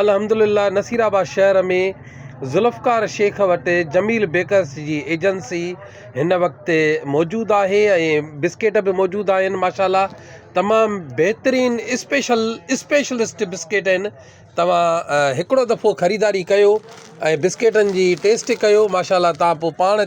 الحمد لله نصير آباد شهر ۾ ذوالفقار شيخ وٽ جميل بيڪرس جي ايجنسي هن وقت موجود آهي ۽ بسڪيٽ به موجود آهن ماشاءالله تمام بهترين اسپيشل اسپيشلسٽ بسڪيٽ آهن توهان هڪڙو دفعو خريداري ڪيو ۽ بسڪيٽن جي ٽيسٽ ڪيو ماشاءالله تان پوء پاڻ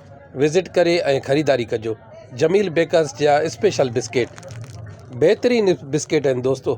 وزٽ ڪري ۽ خريداري ڪجو جميل بيڪرس جا اسپيشل بسڪيٽ بهترين بسڪيٽ آهن دوستو